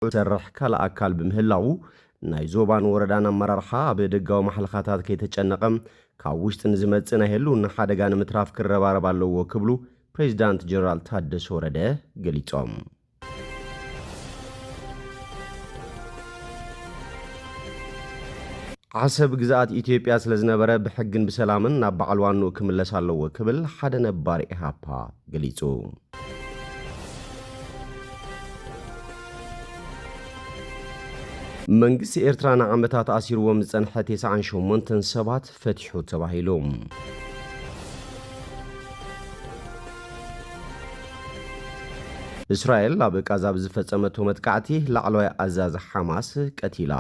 ዝሰርሕ ካልእ ኣካል ብምህላዉ ናይ ዞባን ወረዳን ኣመራርሓ ኣብ ደጋዊ ማሕለኻታት ከይተጨነቐ ካብ ውሽጢ ንዝመጽእ ናይ ህልውና ሓደጋ ንምትራፍ ክረባረብ ኣለዎ ክብሉ ፕሬዚዳንት ጀነራል ታደሰ ወረደ ገሊፆም። ዓሰብ ግዝኣት ኢትዮጵያ ስለዝነበረ ብሕግን ብሰላምን ናብ በዓል ዋንኡ ክምለስ ኣለዎ ክብል ሓደ ነባር ኢህኣፓ ገሊፁ። መንግስቲ ኤርትራ ንዓመታት ኣሲርዎም ዝጸንሐ ቴስዓን ሸሞንተን ሰባት ፈቲሑ ተባሂሉ። እስራኤል ኣብ ቃዛ ብዝፈጸመቶ መጥቃዕቲ ላዕለዋይ ኣዛዚ ሓማስ ቀቲላ።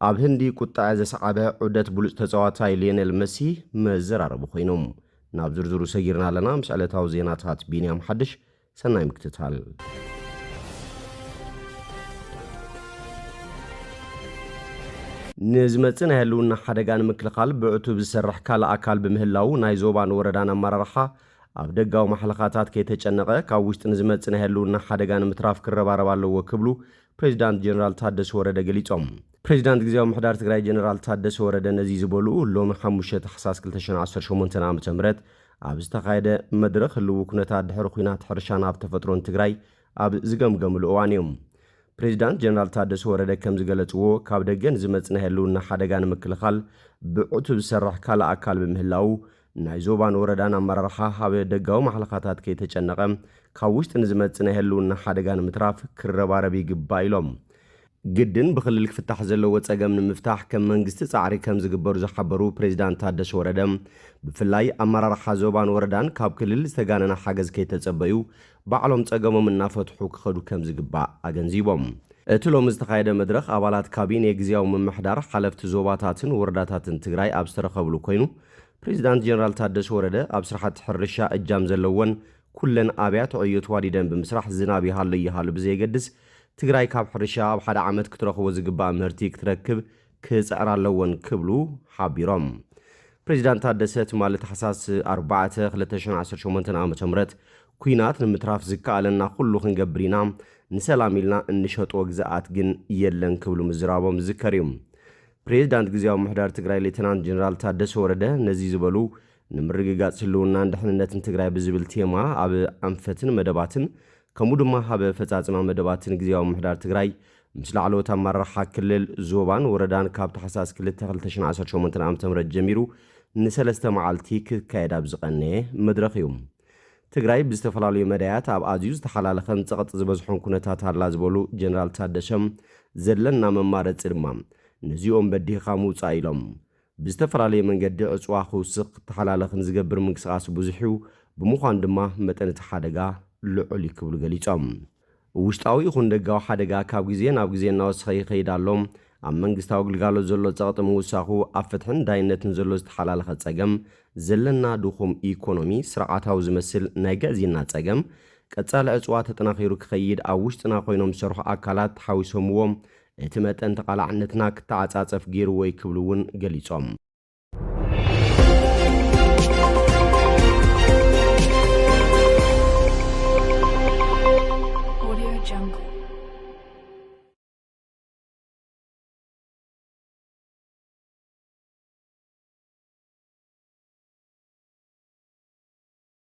ኣብ ህንዲ ቁጣዐ ዘስዓበ ዑደት ብሉጽ ተጻዋታይ ሊዮኔል መሲ መዘራረቢ ኮይኑ። ናብ ዝርዝሩ ሰጊርና ኣለና ምስ ዕለታዊ ዜናታት ቢንያም ሓድሽ ሰናይ ምክትታል። ንዝመፅእ ናይ ህልውና ሓደጋ ንምክልኻል ብዕቱብ ዝሰርሕ ካልእ ኣካል ብምህላዉ ናይ ዞባን ወረዳን ኣመራርሓ ኣብ ደጋዊ ማሕለኻታት ከይተጨነቐ ካብ ውሽጢ ንዝመፅእ ናይ ህልውና ሓደጋ ንምትራፍ ክረባረብ ኣለዎ ክብሉ ፕሬዚዳንት ጀነራል ታደሰ ወረደ ገሊፆም። ፕሬዚዳንት ግዝያዊ ምሕዳር ትግራይ ጀነራል ታደሰ ወረደ ነዚ ዝበሉ ሎሚ ሓሙሽተ ታሕሳስ ክልተ ሽሕን ዓሰርተ ሸሞንተን ዓመተ ምህረት ኣብ ዝተኻየደ መድረኽ ህልዊ ኩነታት ድሕሪ ኹናት ሕርሻን ሃፍቲ ተፈጥሮን ትግራይ ኣብ ዝገምገምሉ እዋን እዩ። ፕሬዚዳንት ጀነራል ታደሰ ወረደ ከምዝገለፅዎ፣ ካብ ደገ ንዝመፅ ናይ ህልውና ሓደጋ ንምክልኻል ብዕቱብ ዝሰርሕ ካልእ ኣካል ብምህላዉ ናይ ዞባን ወረዳን ኣመራርሓ ሃብ ደጋዊ ማሕለኻታት ከይተጨነቐ ካብ ውሽጢ ንዝመፅእ ናይ ህልውና ሓደጋ ንምትራፍ ክረባረብ ይግባእ ኢሎም። ግድን ብክልል ክፍታሕ ዘለዎ ፀገም ንምፍታሕ ከም መንግስቲ ፃዕሪ ከምዝግበር ዝሓበሩ ፕሬዚዳንት ታደሰ ወረደ ብፍላይ ኣመራርሓ ዞባን ወረዳን ካብ ክልል ዝተጋነነ ሓገዝ ከይተፀበዩ ባዕሎም ፀገሞም እናፈትሑ ክኸዱ ከምዝግባእ ኣገንዚቦም። እቲ ሎሚ ዝተኻየደ መድረኽ ኣባላት ካቢኔ ግዝያዊ ምምሕዳር፣ ሓለፍቲ ዞባታትን ወረዳታትን ትግራይ ኣብ ዝተረኸብሉ ኮይኑ ፕሬዚዳንት ጀነራል ታደሰ ወረደ ኣብ ስራሕቲ ሕርሻ እጃም ዘለወን ኩለን ኣብያት ዕዮ ተዋዲደን ብምስራሕ ዝናብ ይሃሎ ኣይሃሎ ብዘየገድስ ትግራይ ካብ ሕርሻ ኣብ ሓደ ዓመት ክትረኽቦ ዝግባእ ምህርቲ ክትረክብ ክፅዕራ ኣለወን ክብሉ ሓቢሮም። ፕሬዚዳንት ታደሰ ትማሊ ታሕሳስ ኣርባዕተ ክልተ ሽሕን ዓሰርተ ሸሞንተን ዓ.ም ኲናት ንምትራፍ ዝከኣለና ኩሉ ክንገብር ኢና፣ ንሰላም ኢልና እንሸጦ ግዝኣት ግን የለን ክብሉ ምዝራቦም ዝዝከር እዩ። ፕሬዚዳንት ግዝያዊ ምምሕዳር ትግራይ ሌተናንት ጀነራል ታደሰ ወረደ ነዚ ዝበሉ ንምርግጋፅ ህልውናን ድሕንነትን ትግራይ ብዝብል ቴማ ኣብ ኣንፈትን መደባትን ከምኡ ድማ ኣብ ኣፈፃፅማ መደባትን ግዝያዊ ምምሕዳር ትግራይ ምስ ላዕለዎት ኣመራርሓ ክልል፣ ዞባን ወረዳን ካብ ታሕሳስ ክልተ ክልተ ሽሕን ዓሰርተ ሸሞንተን ዓመተ ምህረት ጀሚሩ ንሰለስተ መዓልቲ ክካየድ ኣብ ዝቐነየ መድረኽ እዩ። ትግራይ ብዝተፈላለዩ መዳያት ኣብ ኣዝዩ ዝተሓላለኸን ፀቕጢ ዝበዝሖን ኩነታት ኣላ ዝበሉ ጀነራል ታደሰ፣ ዘለና መማረፂ ድማ ነዚኦም በዲህኻ ምውፃእ ኢሎም። ብዝተፈላለየ መንገዲ ዕጽዋ ክውስኽ ክተሓላለኽን ዝገብር ምንቅስቓስ ብዙሕ'ዩ፣ ብምዃኑ ድማ መጠን እቲ ሓደጋ ልዑል'ዩ ክብሉ ገሊጾም። ውሽጣዊ ይኹን ደጋዊ ሓደጋ ካብ ግዜ ናብ ግዜ እናወሰኸ ይኸይድ ኣሎ፣ ኣብ መንግስታዊ ግልጋሎት ዘሎ ጸቕጢ ምውሳኹ፣ ኣብ ፍትሕን ዳይነትን ዘሎ ዝተሓላለኸ ጸገም፣ ዘለና ድኹም ኢኮኖሚ፣ ስርዓታዊ ዝመስል ናይ ግዕዝይና ጸገም፣ ቀጻሊ ዕጽዋ ተጠናኺሩ ክኸይድ ኣብ ውሽጥና ኮይኖም ዝሰርሑ ኣካላት ሓዊሶምዎ እቲ መጠን ተቓላዕነትና ክተዓጻጸፍ ገይሩዎ'ዩ ክብሉ እውን ገሊጾም።